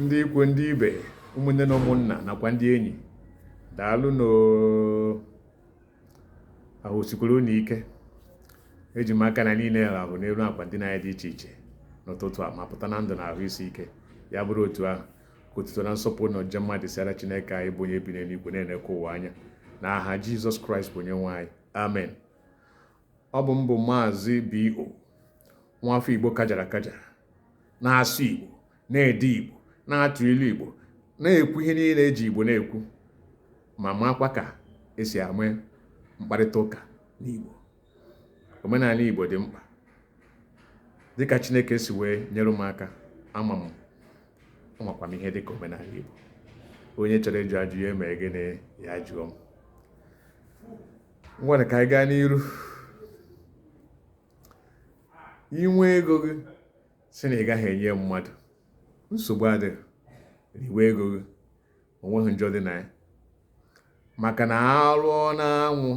ndị ikwu ndị ibe ụmụnne na ụmụnna nakwa ndị enyi daalụnụ ahụ sikwara unu ike eji m aka na niile ahụ n'elu akwa ndina anyị dị iche iche n'ụtụtụ a ma pụta na ndụ na ahụ isi ike ya bụrụ otu ahụ ka otuto na nsọpụrụ na ọjịja mma dịsịara chineke anyị bụ onye bi n'eluigwe na-enekwa ụwa anya n'aha jizọs kraịst bụ onye nwe anyị amen Ọ bụ m bụ Maazị B.O. nwafọ Igbo kajara akaja na-asụ Igbo na-ede Igbo na-atụ ilu Igbo na-ekwu ihe niile eji Igbo na-ekwu ma makwa ka esi ame mkparịta ụka n'Igbo omenala Igbo dị mkpa dịka Chineke si wee nyere m aka ama m amakwa m ihe dịka omenala Igbo onye chọrọ ịjụ ajụ ya mee gịnị ya jụọ m ngwanụ ka anyị gaa n'iru inwe ego gị si na ị gaghị enye mmadụ nsogbu adịghị riwe ego gị onweghị njọ dị na ya maka na arụọ n'anwụ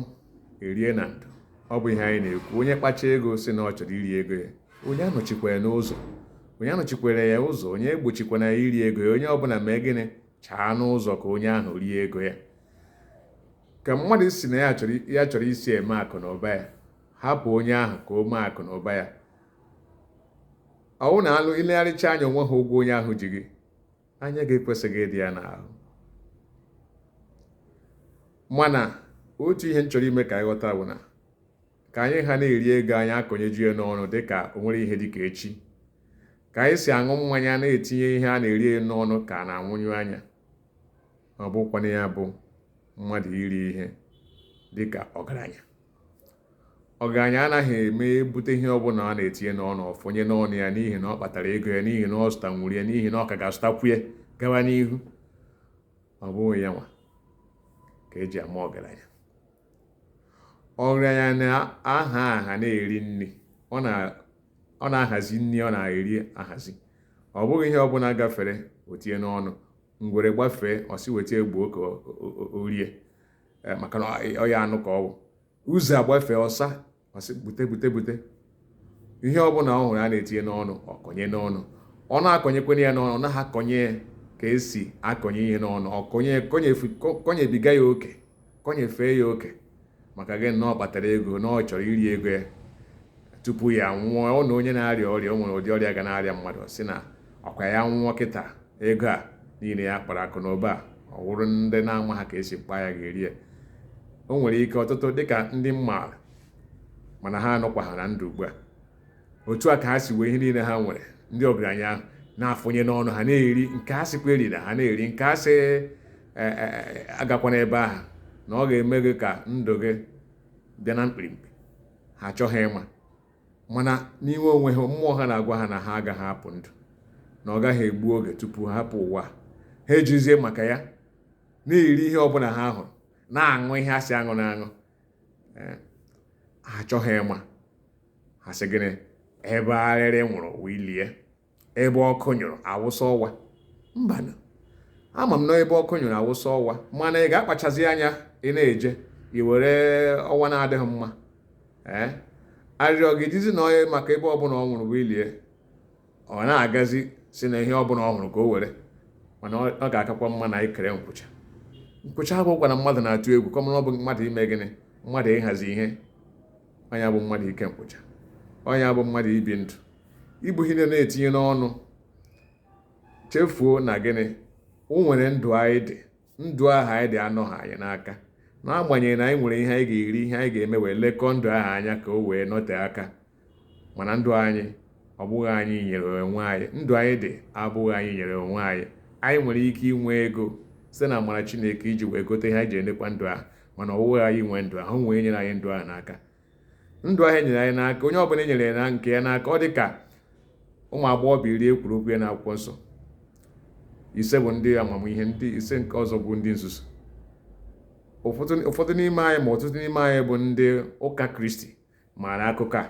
erie na ndo ọ bụ ihe anyị na-ekwu onye kpacha ego si na ọ chọrọ iri ego ya onye anọchikwa ya n'ụzọ onye anọchikwana ya ụzọ onye egbochikwana ya iri ego ya onye ọbụla mee gịnị chaa n'ụzọ ka onye ahụ rie ego ya ka mmadụ si na ya chọrọ isi eme akụ na ụba ya hapụ onye ahụ ka o mee akụ na ụba ya ọwụ na ilegharịcha anya onweha ụgwọ onye ahụ ji gị anya gị ekwesịghị ịdị ya n'ahụ mana otu ihe m chọrọ ime ka anyị ghọta bụ na ka anyị ha na-eri ego anyị akọnyeju ya n'ọnụ dị ka o nwere ihe dị ka echi ka anyị si aṅụ mmanya na-etinye ihe a na-eri n'ọnụ ka a na-anwụnyụ anya ma ọ bụkwanụ ya bụ mmadụ iri ihe dị ka ọgaranya ọgaranya anaghị eme ebute ihe ọbụla a na-etinye n'ọnụ ọ fọnye n'ọnụ ya n'ihi na ọ kpatara ego ya n'ihi na ọ zụtanwuru ya n'ihi na ọ ka ga-azụtakwu ya gawa n'ihu ọ bụghị ya nwa ka eji ama ọgaranya ọgaranya na-aha aha na-eri nri ọ na-ahazi nri ọ na-eri ahazi ọ bụghị ihe ọbụla gafere o tinye n'ọnụ ngwere gbafee ọ sị weta egbuo ka o rie eh, maka na ọ ya anụ ka ọwụ ọzọ agbafee ọsa ọ sị bute bute bute ihe ọbụla ọ hụrụ a na-etinye n'ọnụ ọ kọnye n'ọnụ ọ na-akọnyekwanụ ya n'ọnụ ọ naghị akọnye ka esi akọnye ihe n'ọnụ ọ kọnye kọnyebiga ya oke kọnyefee ya oke maka gịnị na ọ kpatara ego na ọ chọrọ iri ego ya tupu ya nwụọ ọ na onye na-arịa ọrịa o nwere ụdị ọrịa ga na-arịa mmadụ si na ọkwa ya nwụọ kịta ego a niile ya kpara akụ na ụba ọ wụrụ ndị na-amaha ka esi kpaa ya ga-eri ya o nwere ike ọtụtụ dịka ndị m maara mana ha anọkwaha na ndụ ugbu a otu a ka ha si wee ihe niile ha nwere ndị ọgaranya ahụ na-afụnye n'ọnụ ha na-eri nke a sịkwa erina ha na-eri nke a sị e, e, e, agakwana ebe ahụ na ọ ga-eme gị ka ndụ gị bịa na mkpirimkpi ha achọghị ịma mana n'ime onwe ha mmụọ ha na-agwa ha na ha agaghị apụ ndụ na ọ gaghị egbu oge tupu ha hapụ ụwa ha ejizie maka ya na-eri ihe ọbụla ha hụrụ na-aṅụ ihe a sị aṅụna aṅụ eh, ha achọghị ịma ha sị gịnị ebe arịrị nwụrụ wụ ili ya ebe ọkụ nyụrụ awụsa ọwa mbanụ ama m na ebe ọkụ nyụrụ awụsa ọwa mana ị ga-akpachazi anya ị na-eje i were ọwa na-adịghị mma ee eh, arịrị ọ ga-edizi na onye maka ebe ọbụla ọ nwụrụ wụ ili ya ọ na-agazi sị na ihe ọ bụla ọ hụrụ ka o were mana ọ ga-akakwa mma na anyị kere nkwụcha nkwụcha awụghịkwa na mmadụ na-atụ egwu kama na ọ bụ mmadụ ime gịnị mmadụ ịhazi ihe onye bụ mmadụ ike nkwụcha onye bụ mmadụ ibi ndụ ibu ihe na-etinye n'ọnụ chefuo na gịnị o nwere ndụ anyị dị ndụ ahụ anyị dị anọha anyị n'aka n'agbanyeghị na anyị nwere ihe anyị ga-eri ihe anyị ga-eme wee lekọọ ndụ ahụ anya ka o wee nọte aka mana ndụ anyị ọ bụghị anyị nyere onwe anyị ndụ anyị dị abụghị anyị nyere onwe anyị anyị nwere ike inwe ego site na amara Chineke iji wee gote ihe anyị ji enekwa ndụ ahụ mana ọ bụghị anyị nwe ndụ ahụ enyere anyị ndụ ahụ n'aka ndụ ahụ enyere anyị n'aka onye ọbụla enyere ya na nke ya n'aka ọ dị ka ụmụ agbọghọbịa iri ekwuru okwu ya na akwụkwọ nsọ ise bụ ndị amamihe ndị ise nke ọzọ bụ ndị nzuzu ụfọdụ n'ime anyị ma ọtụtụ n'ime anyị bụ ndị ụka kristi maara akụkọ a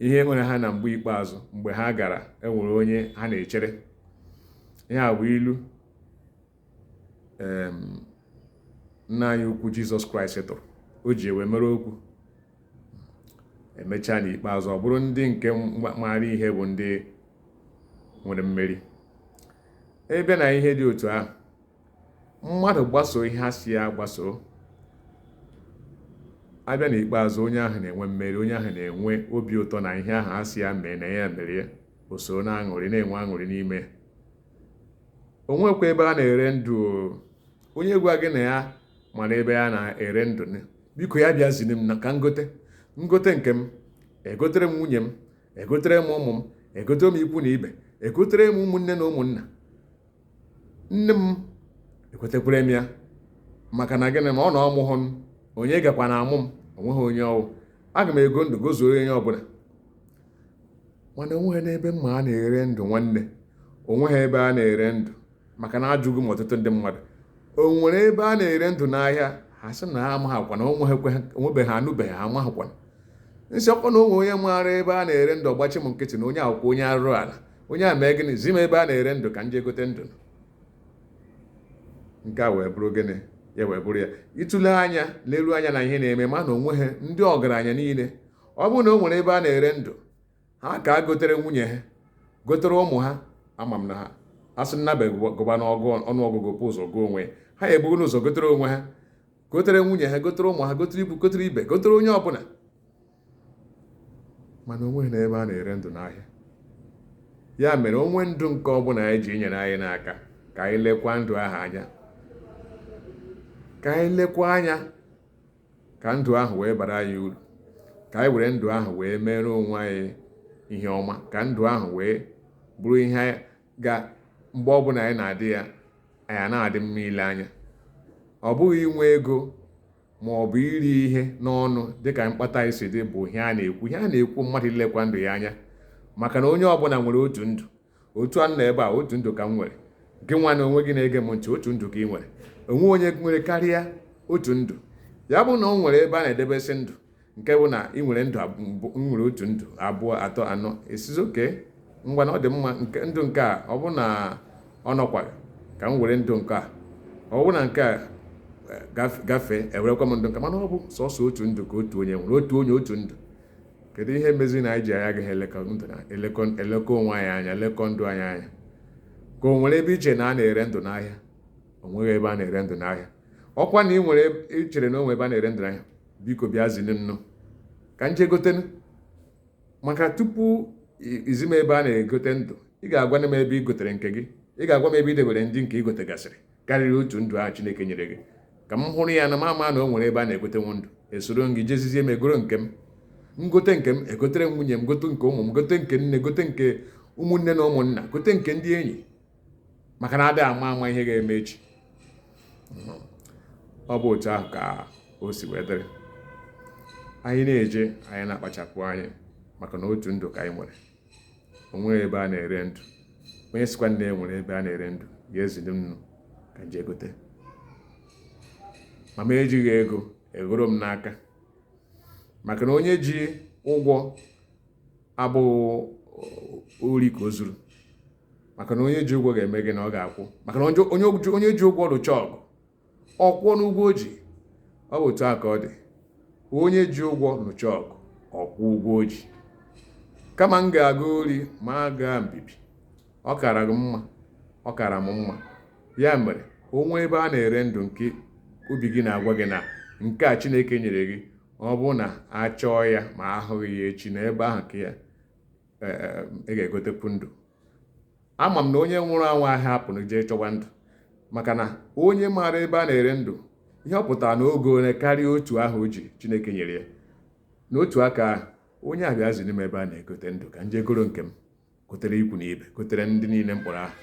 ihe mere ha na mgbe ikpeazụ mgbe ha gara enwere onye ha na-echere ihe a bụ ilu nna anyị ukwu jizọs kraịst tụrụ o ji wee mere okwu emechaa n'ikpeazụ ọ bụrụ ndị nke maara ihe bụ ndị nwere mmeri ebe na ihe dị otu ahụ mmadụ gbasoo ihe a sị ya gbasoo abịa n'ikpeazụ onye ahụ na-enwe mmeri onye ahụ na-enwe obi ụtọ na ihe ahụ a sị ya mee na ya mere ya o soro na-aṅụrị na-enwe aṅụrị n'ime onwekwa ebe a na-ere ndụ onye gwa gị na ya mara ebe a na-ere ndụ biko ya bịa ziri m na ka ngote ngote nke m egotere m nwunye m egotere m ụmụ m egotere m ikwu na ibe egotere m ụmụnne na ụmụnna nne m egotekwara m ya maka na gịnị ma ọ na ọ mụhụ m onye gakwa na amụ m onweghị onye ọ wụ aga m ego ndụ gozuo onye ọbụla mana onweghị n'ebe m ma a na-ere ndụ nwanne onweghị ebe a na-ere ndụ maka na ajụgo m ọtụtụ ndị mmadụ o nwere ebe a na-ere ndụ n'ahịa ha sị na ha amaghịkwa na onwebeghị ha anụbeghị ha amaghịkwa m sị ọkwa na o nwee onye maara ebe a na-ere ndụ ọ gbachi m nkịtị na onye aghụghọ onye arụrụ ala onye a mee gịnị zi m ebe a na-ere ndụ ka m jee gote ndụ nke a wee bụrụ gịnị ya wee bụrụ ya ị tụlee anya leruo anya na ihe na-eme ma na onweghị ndị ọgaranya niile ọ bụrụ na o nwere ebe a na-ere ndụ ha ka egotere nwunye ha gotere ụmụ ha ama m na ha a sị nnabe gụba ọnụọgụgụ bu ụzọ gụọ onwe ya ha ebugo ụzọ gotere onwe ha gotere nwunye ha gotere ụmụ ha gotere ikwu gotere ibe gotere onye ọbụla mana onweghị n'ebe a na-ere ndụ n'ahịa ya mere o nwee ndụ nke ọbụla anyị ji nyere anyị n'aka ka anyị lekwa ndụ ahụ anya ka anyị lekwa anya ka ndụ ahụ wee bara anyị uru ka anyị were ndụ ahụ wee mere onwe anyị ihe ọma ka ndụ ahụ wee bụrụ ihe ga mgbe ọbụla anyị na-adị ya anyị na-adị mma ile anya ọ bụghị inwe ego ma ọ bụ iri ihe n'ọnụ dịka mkpata anyị si dị bụ ihe a na-ekwu ihe a na-ekwu mmadụ ilekwa ndụ ya anya maka na onye ọbụla nwere otu ndụ otu a m nọ ebe a otu ndụ ka m nwere gị nwa na onwe gị na-ege m ntị otu ndụ ka ị nwere onweghị onye nwere karịa otu ndụ ya bụ na o nwere ebe a na-edebesị ndụ nke bụ na ị nwere ndụ nwere otu ndụ abụọ atọ anọ ị sịzi okay ngwa na ọ dị mma nke ndụ nke a ọ bụ na ọ nọkwa ka m were ndụ nke a ọ bụ na nke a gafee ewerekwa m ndụ nke a mana ọ bụ sọsọ otu ndụ ka otu onye nwere otu onye otu ndụ kedu ihe mezi na anyị ji anyị agaghị elekọ onwe anyị anya lekọ ndụ anyị anya ka o nwere ebe i che na a na-ere ndụ n'ahịa o nweghị ebe a na-ere ndụ n'ahịa ọkwa na ị nwere i chere na o nwe ebe a na-ere ndụ n'ahịa biko bịa ziri m nụ ka m je gotenụ maka tupu i zi m ebe a na-egote ndụ ị ga-agwa m ebe ị gotere nke gị ị ga-agwa m ebe ị debere ndị nke ị gotegasịrị karịrị otu ndụ ahụ chineke nyere gị ka m hụrụ ya na m ama na o nwere ebe a na-egotenwu ndụ esoro m gị jezizie m egoro nke m m gote nke m egotere m nwunye m gote nke ụmụ m gote nke nne gote nke ụmụnne na ụmụnna gote nke ndị enyi maka na adịghị ama ama ihe ga-eme echi ọ bụ otu ahụ ka o si wee dịrị anyị na-eje anyị na-akpachapụ anya maka na otu ndụ ka anyị nwere onweghị ebe a na-ere ndụ onye sịkwanụ na e nwere ebe a na-ere ndụ ya zili m nụ ka m je gote ma m ejighị ego egoro m n'aka maka na onye ji ụgwọ abụghị ori ka o zuru maka na onye ji ụgwọ ga-eme gịnị ọ ga-akwụ maka na onye ji ụgwọ lụcha ọgụ ọ kwụọ n'ụgwọ o ji ọ bụ otu a ka ọ dị onye ji ụgwọ nụcha ọgụ ọ kwụọ ụgwọ o ji kama m ga-aga ori ma a gaa mbibi ọ kara gị mma ọ kara m mma ya mere o nweghị ebe a na-ere ndụ nke obi gị na-agwa gị na nke a chineke nyere gị ọ bụrụ na a chọọ ya ma ahụghị ya echi na ebe ahụ ka ya e, e, e, ị ga-egotekwu ndụ Ama m na onye nwụrụ anwụ ahịa apụrụ jee chọwa ndụ maka na onye maara ebe a na-ere ndụ ihe ọ pụtara na o goola karịa otu ahụ o ji Chineke nyere ya n'otu aka ahụ onye a bịa ziri m ebe a na-egote ndụ ka m jee goro nke m gotere ikwu na ibe gotere ndị niile m kpọrọ aha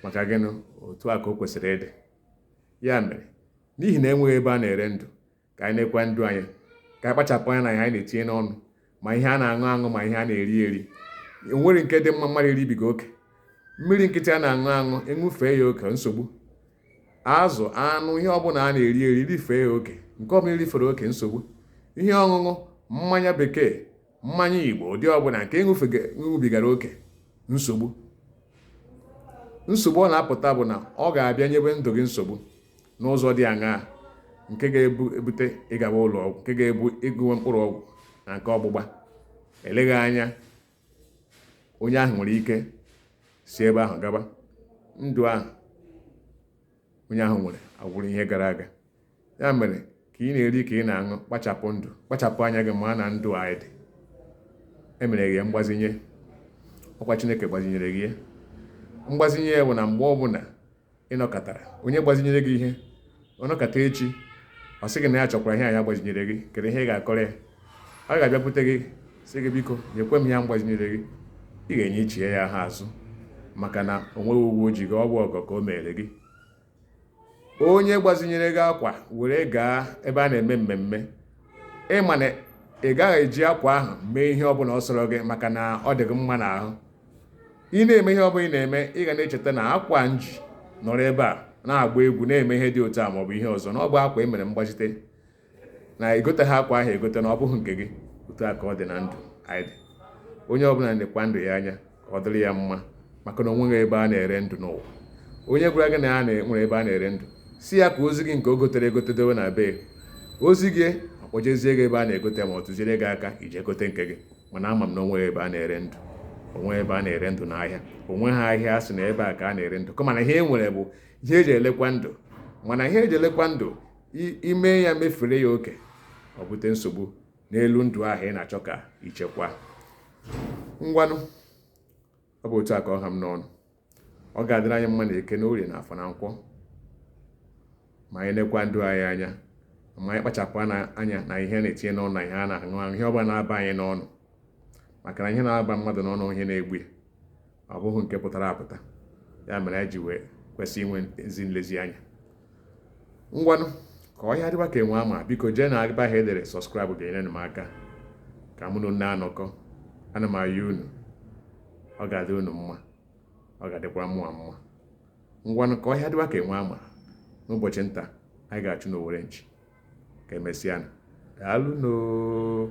maka gịnị otu a ka o kwesịrị ịdị ya mere n'ihi na enweghị ebe a na-ere ndụ ka anyị nekwaa ndụ anyị ka anyị kpachapụ anya na ihe anyị na-etinye n'ọnụ ma ihe a na-aṅụ aṅụ ma ihe a na-eri eri o nwere nke dị mma mmadụ iribiga oke mmiri nkịtị a na-aṅụ aṅụ ị ṅụfee ya oke nsogbu azụ anụ ihe ọbụla a na-eri eri rifee ya oke nke ọbụla i rifere oke nsogbu ihe ọṅụṅụ mmanya bekee mmanya igbo ụdị ọbụla nke ị ṅụbigara oke nsogbu nsogbu ọ na-apụta bụ na ọ ga-abịa nyebe ndụ gị nsogbu n'ụzọ dị aṅaa nke ga-ebute ịgaba ụlọ ọgwụ nke ga-ebu ịṅụwa mkpụrụ ọgwụ na nke ọgbụgba eleghị anya onye ahụ nwere ike si ebe ahụ gaba ndụ ahụ onye ahụ nwere abụrụ ihe gara aga ya mere ka ị na-eri ka ị na-aṅụ kpachapụ ndụ kpachapụ anya gị ma na ndụ a ị dị e mere gị ya mgbazinye ọkwa Chineke gbazinyere gị ya mgbazinye ya bụ na mgbe ọbụla ị nọkọtara onye gbazinyere gị ihe ọ nọkọta echi ọ sị gị na ya chọkwara ihe a ya gbazinyere gị kedu ihe ị ga-akọrọ ya ọ ga-abịakwute gị sị gị biko nyekwa m ihe m gbazinyere gị ị ga-enyechi ya ya azụ maka na o nweghị ụgwọ o ji gị ọ bụ ọgọ ka o mere gị onye gbazinyere gị akwa were gaa ebe a na-eme mmemme ị ma na ị gaghị eji akwa ahụ mee ihe ọbụla ọ sọrọ gị maka na ọ dị gị mma n'ahụ ị na-eme ihe ọbụla ị na-eme ị ga na-echeta na akwa m ji nọrọ ebe a na-agba egwu na-eme ihe dị otu a maọbụ ihe ọzọ na ọ bụ akwa e mere mgbazite na egoteghị akwa ahụ egote na ọ bụghị nke gị otu a ka ọ dị na ndụ anyị dị onye ọbụla nekwaa ndụ ya anya ka ọ dịrị ya mma maka na o nweghị ebe a na-ere ndụ n'ụwa onye gwara gị na ya nwere ebe a na-ere ndụ sị ya ka o zi gị nke o gotere egote dowe na be o zi gị ọ kpọjezie gị ebe a na-egote ma ọ tụziere gị aka i jee gote nke gị mana ama m na o nweghị ebe a na-ere ndụ o nweghị ebe a na-ere ndụ n'ahịa o nweghị ahịa a sị na ebe a ka a na-ere ndụ kama na ihe e nwere bụ ihe eji elekwa ndụ mana ihe eji elekwa ndụ ime ya mefere ya oke ọ bute nsogbu n'elu ndụ ahụ ị na-achọ ka ichekwa ngwanụ ọ bụ otu a ka ọ ha m n'ọnụ ọ ga-adịrị anyị mma na eke na orie na afọ na nkwọ ma anyị nekwa ndụ anyị anya ma anyị kpachapụ anya na ihe a na-etinye n'ọnụ na ihe a na-aṅụ aṅụ ihe ọbụla na-aba anyị n'ọnụ maka na ihe na-aba mmadụ n'ọnụ ihe na-egbu ya ọ bụghị nke pụtara apụta ya mere anyị ji wee kwesị inwe ezi nlezianya ngwanụ ka ọhịa dịwa ka enwe ama biko jee na ebe ahụ edere subscribe ga-enyere m aka ka mụ na unu na-anọkọ ana m ayọ unu ọ ga-adị unu mma ọ ga-adịkwa mụa mma ngwanụ ka ọhịa dịwa ka enwe ama n'ụbọchị nta anyị ga-achụ n'owere nchi ka emesịa daalụnụ oo